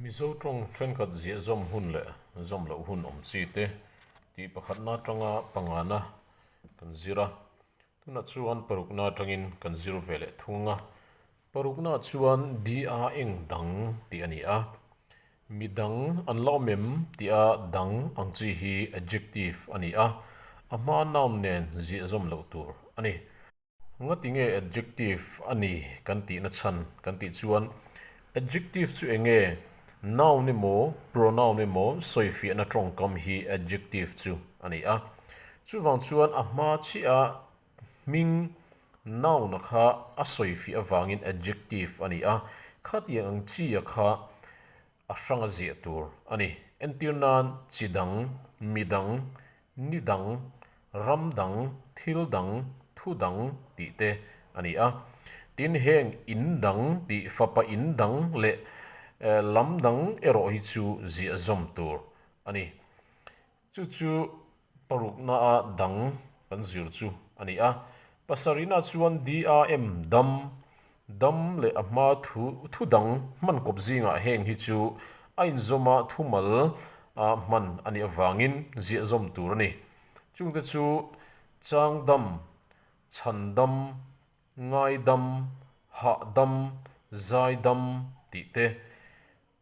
Mizo tawng thenkhat ziahzawm hun leh zawm loh hun awm chi te tih pakhatna atanga pangana kan zir a, tunah chuan parukna atangin kan zir ve leh thung a. Paruknaah chuan di a eng dang tih a ni a, mi dang an la awm em tih a dang ang chi hi adjective a ni a, a hma noun nen ziahzawm loh tur a ni. Ngati nge adjective a ni kan tihna chhan? Kan tih chuan adjective chu eng nge noun emaw pronoun emaw sawifiahna tawngkam hi adjective chu a ni a. Chuvang chuan a hma chiaha hming noun-a kha a sawifiah avangin adjective a ni a. Khatiang ang chi-a kha a hranga ziah tur a ni. Entir nan chi dang, mi dang, ni dang, ram dang, thil dang, thu dang tih te a ni a. Tin, heng in dang tih fapa in dang leh lam dang erawh hi chu ziahzawm tur a ni. Chu chu parukna a dang kan zir chu a ni a. Pasarihna chuan DRM dam, dam leh a hma thu thu dang hman kawp zingah heng hi chu a inzawma thu mal a hman a nih avangin ziahzawm tur a ni. Chungte chu chang dam, chhan dam, ngai dam, hah dam, zai dam tih te.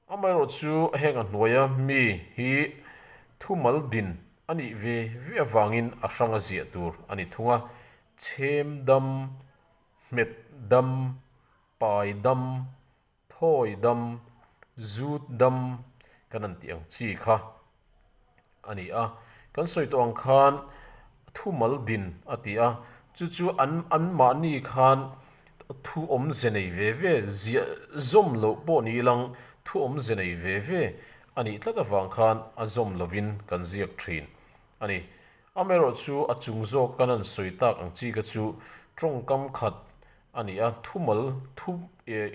Amaherawh chu a heng a hnuai a, mi hi thu mal din a nih ve ve avangin a hrang a ziah tur a ni thung a, chhem dam, hmet dam, pai dam, thawi dam, zut dam kan an tih ang chi kha a ni a, kan sawi tawh ang khan thumal din a ti a, chu chu an an mahni khan thu awm ze nei ve ve, ziah zawm loh pawh ni lang thu awm ze nei ve ve a nih tlat avang khan a zawm lovin kan ziak thin a ni. Amaherawh chu a chung zawk kan han sawi tak ang chi kha chu tawngkam khat a ni a, thumal thu eh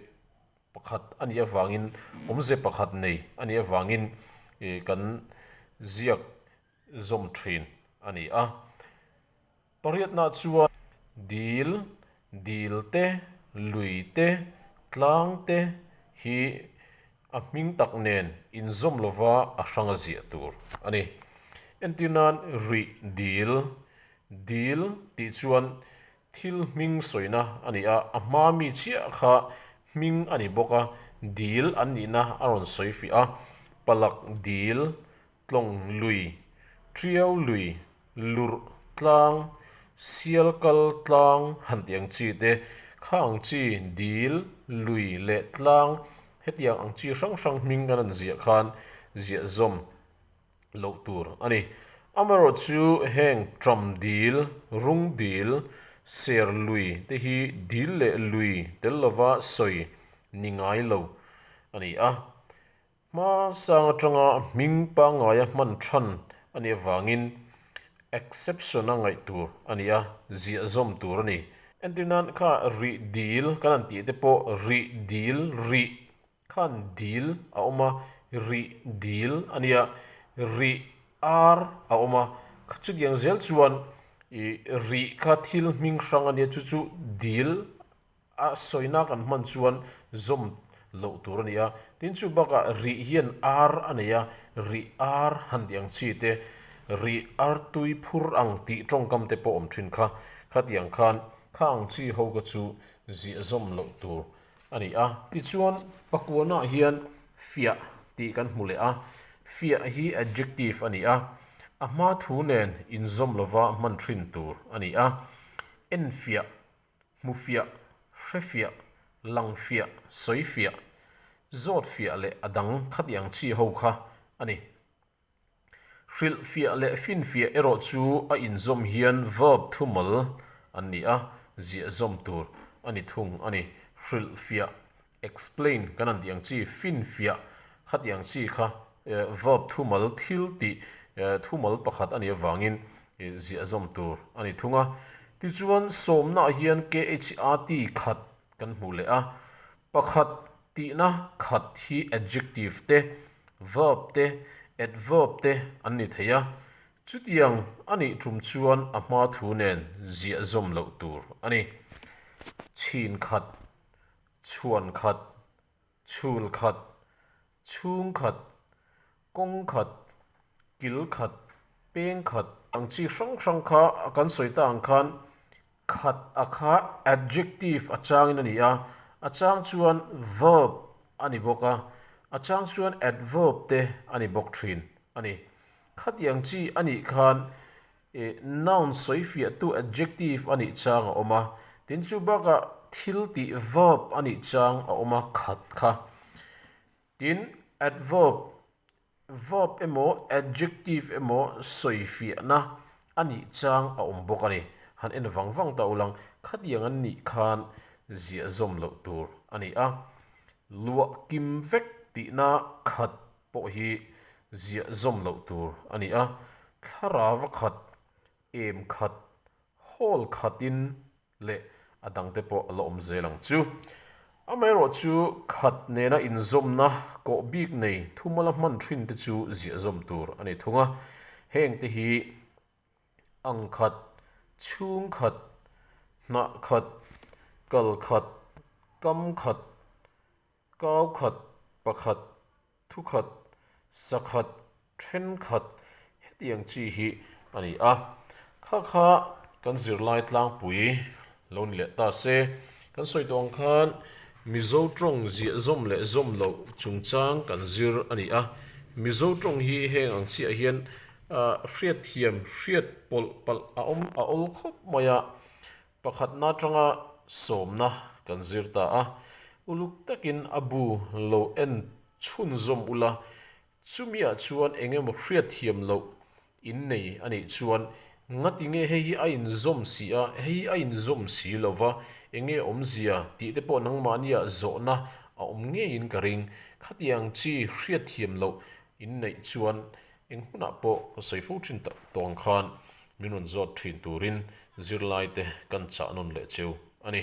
Pakhat a nih avangin awmze pakhat nei a nih avangin kan ziak zawm thin a ni a. Pariatna chuan dil, dil te, lui te, tlang te hi a hming tak nen inzawm lova a hranga ziah tur a ni. Entirnan rih dil, dil tih chuan Thil hming sawina a ni a, a hma mi chiah kha hming a ni bawk a, dil an nihna a rawn sawi fiah a, palak dil, tlawng lui, ṭiau lui, lurh tlang, sial kal tlang han tih ang chi te kha ang chi, dil, lui leh tlang hetiang ang chi hrang hrang hming kan rawn ziah khan ziahzawm. loh tur a ni. Amaherawh chu heng ṭam dil, rung dil, ser lui te hi dil leh lui tel lova sawi ni ngai lo a ni a. Hma sang aṭanga hming pangaia hman ṭhan a nih avangin exception a ngaih tur a ni a, ziahzawm tur a ni. Entirnan kha rih dil kan an tih te pawh rih dil, rih khan dil a awm a, rih dil a nia, rih ar a awm a, kha chutiang zel chuan ih rih kha thil hming hrang a nia, chu chu dil a sawina kan hman chuan zawm loh tur a ni a, tin chu bakah rih hian ar a nei a, rih ar han tih ang chi te, rih ar tui phur ang tih tawngkam te pawh awm thin kha, khatiang khan kha ang chi ho ka chu ziah zawm loh tur. A ni a, tichuan pakuanah hian fiah tih kan hmu leh a, fiah hi adjective a ni a, a hma thu nen inzawm lova hman ṭhin tur a ni a, en fiah, hmu fiah, hre fiah, lang fiah, sawi fiah, zawt fiah leh a dang khatiang ṭhi ho kha a ni. Hrilh fiah leh fin fiah erawh chu a inzawm hian verb thumal an ni a, ziahzawm tur a ni thung a ni. Hrilh fiah, explain, kan han tih ang chi, fin fiah khati ang chi kha verb thumal thil tih thumal pakhat a nih avangin ziahzawm tur a ni thung a. Tichuan sawmnaah hian KHAT khat kan hmuh leh a, Pakhat, Tihna khat hi adjective te, verb te, adverb te an ni thei a, chutiang a nih ṭum chuan a hma thu nen ziahzawm loh tur a ni. Chhin khat, chhuan khat, chhul khat, chhung khat, Kawng khat, kil khat, peng khat. Ang chi hrang hrang kha a kan sawi ta ang khan khat a kha adjective a changin a ni a, a chang chuan verb a ni bawk a, a chang chuan adverb te a ni bawk thin a ni. Khatiang chi a nih khan eh noun sawifiahtu adjective a nih chang a awm a, tin chu bakah thil tih verb a nih chang a awm a khat kha. Tin, adverb, verb emaw adjective emaw sawi fiahna a nih chang a awm bawk a ni. Han en vang vang ta ulang, khatiang an nih khan ziahzawm loh tur a ni a. Luah kim vek tihna khat pawh hi ziahzawm loh tur a ni a. Thlarava khat, em khat, hawl khatin leh a dangte pawh a la awm zel ang chu. Amaherawh chu khat nena inzawmna kawh bik nei thumal a hman thin te chu ziahzawm tur a ni thung a, heng te hi ang khat, chhung khat, hnah khat, kal khat, kam khat, Kau khat, pakhat, thu khat, sa khat, then khat heti ang chi hi a ni a. Kha kha kan zirlai tlangpui lo ni leh ta se. Kan sawi tawh ang khan Mizo tawng ziahzawm leh zawm loh chungchang kan zir a ni a. Mizo tawng hi heng ang chiah hian hriatthiam, hriat pawlh palh a awm a awl khawp mai a. Pakhatna atanga sawmna kan zir ta a, uluk takin a bu lo en chhunzawm ula, chumiah chuan engemaw hriatthiam loh in nei a nih chuan ngatinge hei hi a inzawm si a, hei hi a inzawm si lo va, enge awmzia tih te pawh nangmahnia zawhna a awm ngeiin ka ring. Khatiang chi hriatthiam loh in neih chuan Eng hunah pawh ka sawi fo thin tak tawng khan min rawn zawt thin turin zirlaite kan chahnawn leh cheu a ni.